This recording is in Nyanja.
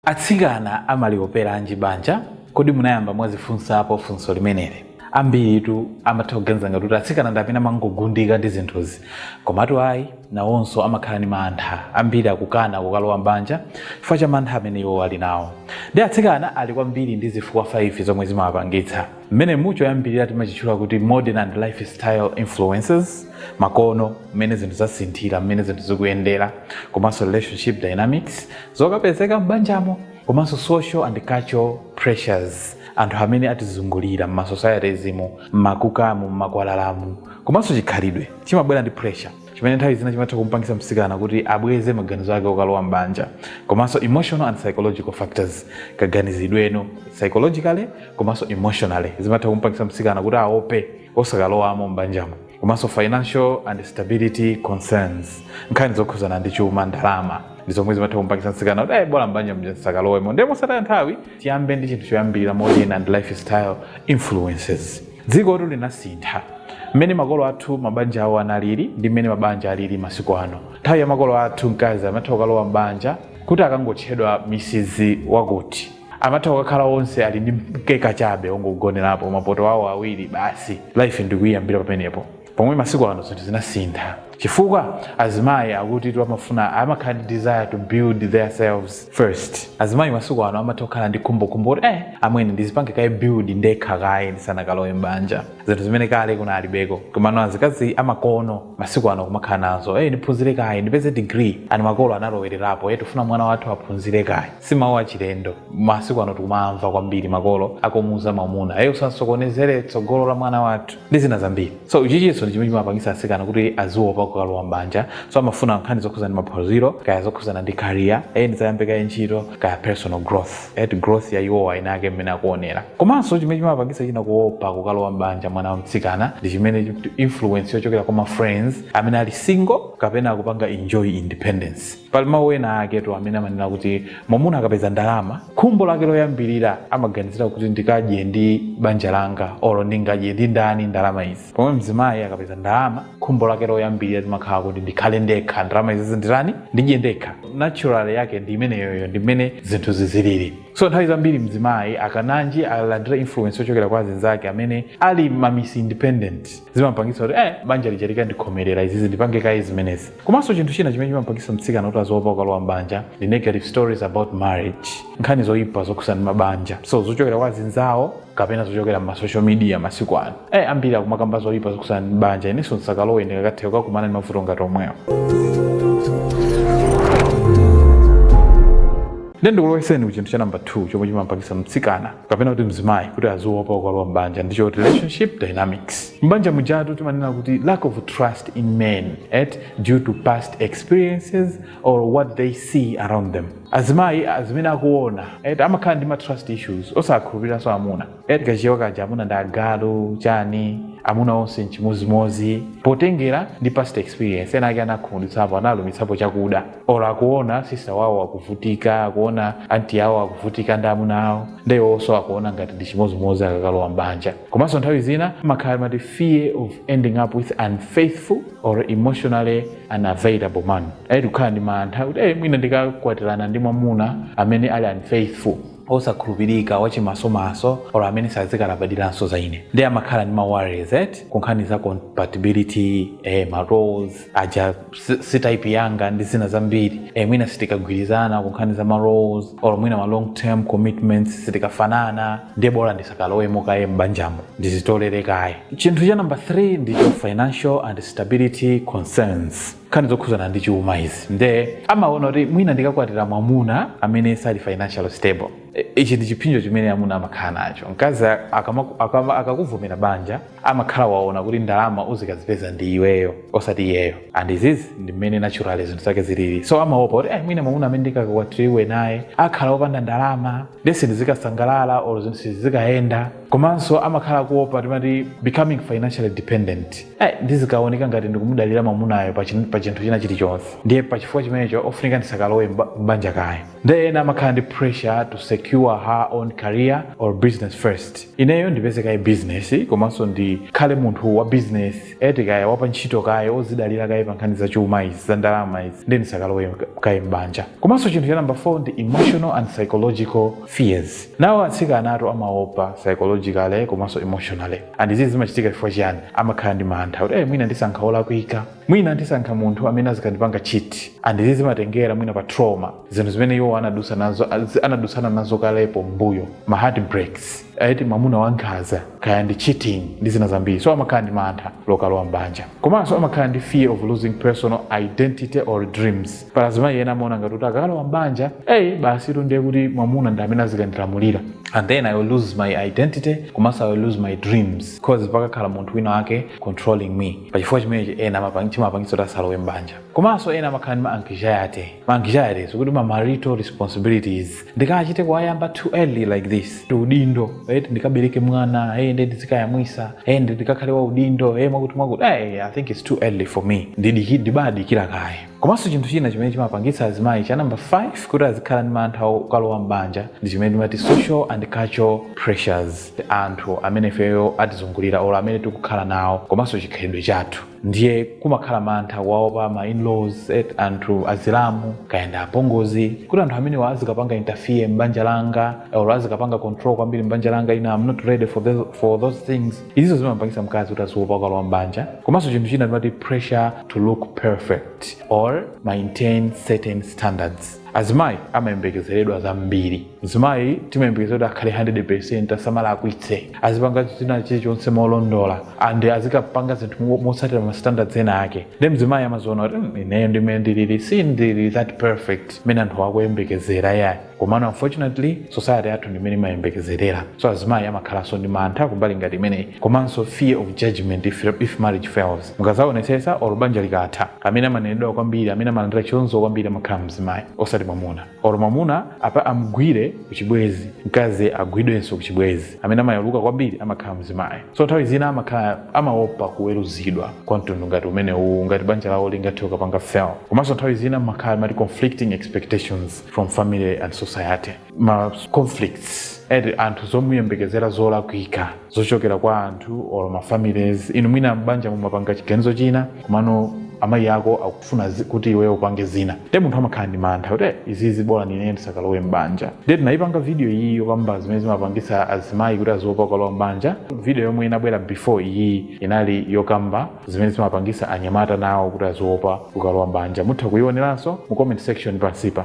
Atsikana amalioperanji banja? Kodi munayamba mwazifunsapo funso limeneli? Ambiritu amatha kuganiza ngati kuti atsikana ndi amene amangogundika ndi zinthuzi. Komatu ayi, nawonso amakhala ndi mantha. Ambiri akukana kukalowa m'banja chifukwa cha mantha amene iwo ali nawo. Ndi atsikana ali kwambiri ndi zifukwa 5 zomwe zimawapangitsa. mmenemu choyambirira timachitchula kuti modern and lifestyle influences makono mmene zinthu zasinthira mmene zinthu zikuyendera komanso relationship dynamics zokapezeka m'banjamo komanso social and cultural pressures anthu amene atizungulira m'masocietiesmu m'makukamu m'makwalalamu komanso chikhalidwe chimabwera ndi pressure chimene nthawi zina chimatha kumpangisa msikana kuti abweze maganizo ake okalowa m'banja komanso emotional and psychological factors kaganizidwe psychologically komanso emotionally zimatha kumpangisa msikana kuti aope osakalowamo m'banjamo komanso financial and stability concerns nkhani zokhuzana ndi chuma ndalama ndi zomwe zimatha kumpangisa msikana kuti bola m'banja ndisakalowemo ndiye mosataya nthawi tiyambe ndi chinthu choyambirira modern and lifestyle influences Dzikotu linasintha. Mmene makolo athu mabanja awo analili ndi mmene mabanja alili masiku ano. Nthawi ya makolo athu mkazi amatha kukalowa m'banja kuti akangotchedwa Mrs. Wakuti. Amatha kukakhala onse ali ndi mkeka chabe ongogonerapo, mapoto awo awiri, basi life ndi kuiyambira pamenepo. pomwe masiku ano zinthu zinasintha chifukwa azimayi akuti amafuna amakhala ndi desire to build their selves first azimayi masiku ano amatha kukhala ndi khumbokhumbo kuti eh amwene ndizipange kaye build ndekha kaye ndisanakalowe m'banja zinthu zimene kale kunalibeko komano azikazi amakono masiku ano kumakhala nazo eh ndiphunzire kaye ndipeze degree ani makolo analowererapo eh tifuna mwana wathu aphunzire kaye si mawu achilendo masiku ano tikumamva kwambiri makolo akumuuza mwamuna eh usasokonezere tsogolo la mwana wathu ndi zina zambiri so ichichonso ndi chimene chimapangisa asikana kuti aziopa kukalowa mbanja so amafuna nkhani zokhuzana ndi maphunziro kaya zokhuzana ndi career eye ndizayambe kaye ntchito kaya personal growth growth ya iwowa inayake mmene akuonera komanso chimene chimapangisa china kuopa kukalowa mbanja mwana wa mtsikana ndi chimene influence yochokera kwa ma friends amene ali single kapena akupanga enjoy independence Pali mawu ena aketu amene amanena kuti mwamuna akapeza ndalama, khumbo lake loyambirira amaganizira kuti ndikadye ndi banja langa olo ndingadye ndi ndani ndalama izi. Pomwe mzimayi akapeza ndalama, khumbo lake loyambirira limakhala kuti ndikhale ndekha, ndalama izi nditani? Ndidye ndekha. Natural yake ndi imeneyoyo, ndi mmene zinthu ziziliri. So nthawi zambiri mzimayi akananji alandira influence yochokera kwa azinzake amene ali ma miss independent, zimampangisa kuti eh, banja lija likandikhomerera izizi ndipange kaye zimenezi. Komanso chinthu china chimene chimamupangitsa mtsikana kuti aziopa kukalowa m'banja ndi negative stories about marriage, nkhani zoipa zokhudzana ndi mabanja, so zochokera kwa azinzawo kapena zochokera m'ma social media masiku ano. Eh, ambiri akumakamba zoipa zokhudzana ndi banja, inenso ndisakalowe ndikakatha kukakumana ndi mavuto ngati omwewo. Ndiye ndikulowetseni ku chinthu cha number 2 chomwe chimamupangitsa mtsikana kapena kuti mzimayi kuti aziopa kukalowa m'banja ndi choti relationship dynamics m'banja mujatu timanena kuti lack of trust in men eti due to past experiences or what they see around them azimayi azimene akuona eti amakhala ndi ma trust issues osakhulupiriranso amuna eti kachichewa kaja amuna ndi agalu chani amuna onse nchimozimozi potengera ndi past experience ena ake anakhumudwitsapo analumitsapo chakuda or akuona sister wawo akuvutika akuona anti awo akuvutika ndi amuna awo nde iwonso akuona ngati ndi chimodzimodzi akakalowa mbanja komanso nthawi zina amakhala timati fear of ending up with unfaithful or emotionally unavailable man eti kukhala ndi mantha kuti eh, mwina ndikakwatirana ndi mwamuna amene ali unfaithful osakhulupirika wachimasomaso or amene sazikalabadiranso za ine nde amakhala ndi ma worries eti kunkhani za compatibility eh, ma roles aja si- si type yanga ndi zina zambiri e, mwina sitikagwirizana kunkhani za ma roles or mwina ma long term commitments sitikafanana ndiye bola ndisakalowemo kaye m'banjamo ndizitolere kaye chinthu cha namba 3 ndicho financial and stability concerns nkhani zokhuzana ndi chuma izi nde amaona kuti mwina ndikakwatira mwamuna amene sali financially stable E, ichi ndi chipsinjo chimene amuna amakhala nacho mkazi akama- akama- akakuvomera banja amakhala waona kuti ndalama uzikazipeza ndi iweyo osati iyeyo and izizi ndi mmene naturally zinthu zake zilili so amaopa kuti eh, mwina mwamuna amene ndikakwatiriwe naye akhala opanda ndalama nde sindizikasangalala or zinthu sizikayenda komanso amakhala akuopa timati becoming financially dependent eh, ndizikaoneka ngati ndikumudalira mwamunayo pa chin- pa chinthu china chilichonse ndiye pa chifukwa chimenecho ofunika ndisakalowe mba- m'banja kaye nde ena amakhala ndi pressure to secure her own career or business first ineyo ndipeze kaye business komanso ndikhale munthu wa business eti kaya wapa ntchito kaye ozidalira kaye pa nkhani za chuma izi za ndalama izi nde ndisakalowe kaye m'banja komanso chinthu cha number 4 ndi emotional and psychological fears nawo atsikanatu amaopa psychologically komanso emotionally and izi zimachitika chifukwa chiyani amakhala ndi mantha kuti eh mwina ndisankha olakwika mwina ndisankha munthu amene azikandipanga cheat and izi zimatengera mwina pa trauma zinthu zimene iwo anadusa nazo az- anadusana nazo kalepo mbuyo ma heartbreaks eti mamuna wankhaza kaya ndi cheating ndi zina zambiri so amakhala ndi mantha okalowa mbanja komanso amakhala ndi fear of losing personal identity or dreams pali azimayi ena amaona ngati kuti akakalowa mbanja eyi basitu ndiye kuti mwamuna ndi amene azikandilamulira and then i will lose my identity komanso i will lose my dreams cause pakakhala munthu wina wake controlling me pa chifukwa chimenechi ena amapang- chimapangitsa kuti asalowe m'banja komanso ena amakhala ndi ma anxiety ma anxieties okuti ma marital responsibilities ndikachite kuwayamba too early like this ndi udindo right ndikabereke mwana hey, nde ndizikayamwisa hey, ndi ndikakhale wa udindo hey, mwakuti mwakuti hey, i think it's too early for me ndidiki ndibadikira kaye komanso chinthu china chimene chimapangitsa azimayi cha namba 5 kuti azikhala ndi mantha okalowa m'banja ndi chimene timati social and cultural pressures anthu amene ifeyo atizungulira or amene tikukhala nawo komanso chikhalidwe chathu ndiye kumakhala mantha kuwaopa ma in-laws eti anthu azilamu kaya ndi apongozi kuti anthu amenewa azikapanga interfere m'banja langa or azikapanga control kwambiri m'banja langa ine I'm not ready for, the, for those things izizo zimapangisa mkazi kuti aziopa kukalowa m'banja komanso chinthu china timati pressure to look perfect or maintain certain standards azimayi amayembekezeredwa zambiri mzimayi timayembekezera kuti akhale 100% asamalakwitse azipanga china chilichonse molondola and azikapanga zinthu mo- motsatira ma standards ena ake nde mzimayi amaziona kuti "Mm, ineyo ndi mmene ndilili sindili that perfect mmene anthu akuyembekezera yayi komano unfortunately society yathu ndi mmene imayembekezerera so azimayi amakhalanso ndi mantha kumbali ngati imeneyi komanso fear of judgment if, if marriage fails mukazaonetsetsa olo banja likatha amene amanenedwa kwambiri amene amalandira chitonzo kwambiri amakhala mzimayi osati mwamuna olo mwamuna apa amgwire kuchibwezi mkazi agwidwenso kuchibwezi amene amayaluka kwambiri amakhala mzimayi so nthawi zina amakhala amaopa kuweruzidwa kwa mtundu ngati umene uwu ngati banja lawo lingathe kukapanga fail komanso nthawi zina mumakhala mati conflicting expectations from family and society ma conflicts eti anthu zomuyembekezera zolakwika zochokera kwa anthu or ma families inu mwina m'banja mumapanga chiganizo china komano amayi ako akufuna zi- kuti iweyo upange zina nde munthu amakhala ndi mantha kuti "Eh, izizi bolani ine ndisakalowe m'banja nde tinayipanga video iyi yokamba zimene zimapangisa azimayi kuti aziopa kukalowa m'banja video yomwe inabwera before iyi inali yokamba zimene zimapangisa anyamata nawo kuti aziopa kukalowa m'banja mutha kuyiwoneranso mu comment section pansipa